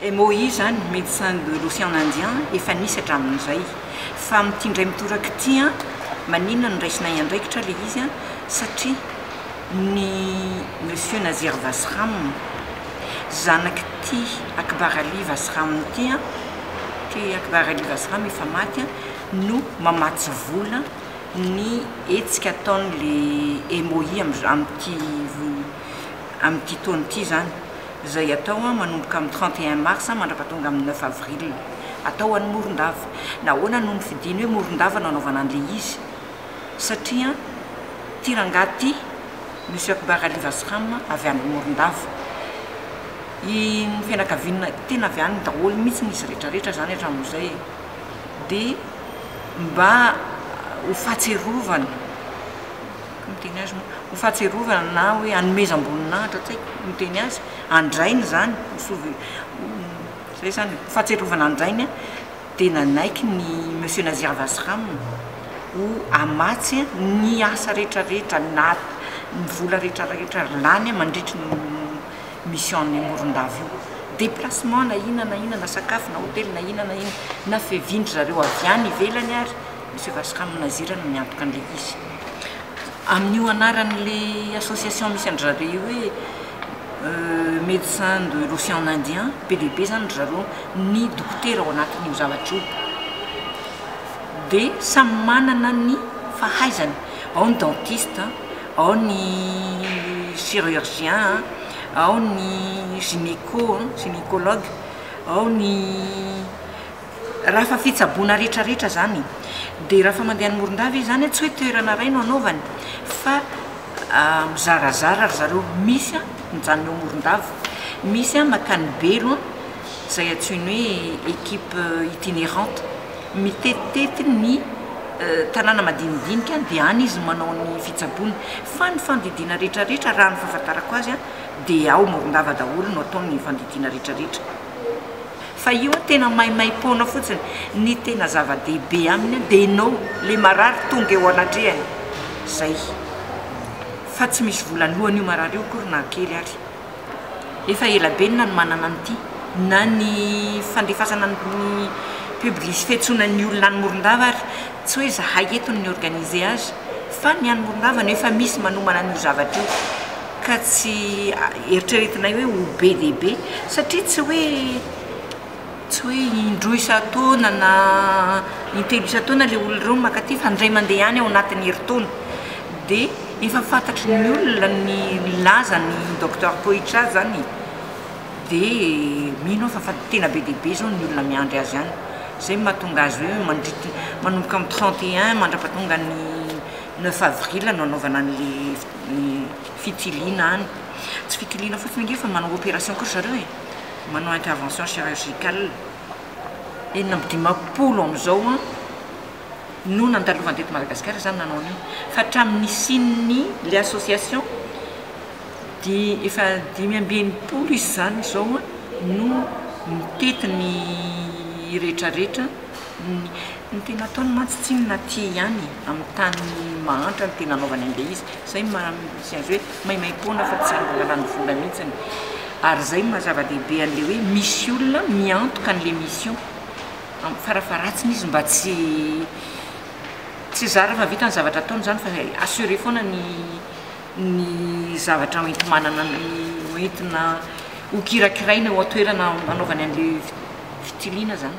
MOI izany, Médecins de l'Océan Indien, efa nisy hatramin'izay. Fa amin'ity indray mitoraka ity an, maninona no raisinay andraikitra ilay izy an, satria ny Monsieur Nazir Vasram, zanak'ity Akbar Ali Vasram ity an, ity Akbar Ali Vasram efa maty an, no mamatsy vola ny hetsika ataon'ilay MOI amin'ity. amin'ity taona ity izany, izay atao manomboka amin'ny trente et un mars mandraka tonga amin'ny neuf avril. Atao any Morondava. Nahoana no nofidiny hoe Morondava no hanaovana an'ilay izy? Satria ity rangahy ity, Monsieur Akbar Ali Vasram, avy any Morondava. I ny fianakaviana, tena avy any daholo mihitsy izy rehetra rehetra izany hatramin'izay e. Dia mba ho fahatsiarovana. Comme teny azy moa, ho fahatsiarovana na hoe hanomezam-boninahitra, tsy haiko ny teny azy, an-drainy izany, ho souve, ho, izay izany e, ho fahatsiarovana an-drainy dia nanaiky ny Monsieur Nazir Vasram ho hamatsy ny asa rehetrarehetra, na ny vola rehetrarehetra lany mandritry ny mission-n'i Morondava io. Déplacement na inona na inona, na sakafo na hotely na inona na inona, na fevian-dry zareo avy any ivelany ary, Misy Vaska amin'ny nazirana miantoka an'ilay izy. Amin'io anaran'ilay association misy an-dry zareo io hoe Médecins de l'Océan Indien, be dia be izany ry zareo, ny dokotera ao anatin'io zavatra io dia samy manana ny fahaizany, ao ny dentiste, ao ny chirurgien, ao ny gynéco, gynécologue, ao ny. Raha fa fitsaboana retraretra zany de raha fa mandeha any Morondava izy zany tsy hoe toerana ray no anaovany fa mizarazara ry zareo misy an mijanona eo Morondava misy an makany Belo an zay antsoiny hoe equipe itinerante mitetitety ny tanàna madinidinika de any izy no manao ny fitsaboana fa ny fandidiana retraretra raha ny fahafantarako azy an de ao Morondava daholo no atao ny fandidiana retraretra. Fa io an tena maimaimpoana fotsiny, ny tena zava-dehibe aminy an dia ianao le marary tonga eo anatrehany, zay. Fa tsy misy vola lohany io marary io akory na kely ary. Efa ela be ny nanomanana an'ity, na ny fandefasana ny publis fiantsoana ny olona any Morondava ary, tsy hoe zahay eto no ni-organiser azy, fa ny any Morondava no efa misy manomana an'io zavatra io. ka tsy eritreretinay hoe ho be dia be satria tsy hoe tsy hoe indroa isan-taona na intelo isan-taona ilay olona ireo no maka aty fa indray mandeha ihany ao anatin'ny herintaona dia efa fantatry ny olona ny lazan'ny docteur Poitra zany e! dia mino aho fa tena be dia be izao ny olona miandry azy any, izay no mahatonga azy hoe mandritry manomboka amin'ny trente et un mandrapatonga ny neuf avril no anaovana an'ilay. ny fitiliana any. Tsy fitiliana fotsiny ange fa manao opération koa ry zareo e, manao intervention chirurgicale. Enina amby dimampolo amin'izao no nandalovany teto Madagasikara izany nanao an'io. Fa hatramin'ny nisian'ny ilay association dia efa dimy amby enimpolo izy izany izao no mitety ny rehetrarehetra Ny tena ataony mantsy tsinona aty ihany e, amin'ny tany mahantra no tena anaovany an'ilay izy, izay no maha misy azy hoe maimaim-poana fa tsy angalan'ny vola mihitsiny, ary izay no maha zava-dehibe an'ilay hoe misy olona miantoka an'ilay mission, amin'ny farafaharatsiny izy mba tsy tsy zara mahavita ny zavatra ataony izany fa assurer foana ny. ny zavatra hoenti-manana hoentina hokirakiraina ao an-toerana hanaovany an'ilay fitiliana izany.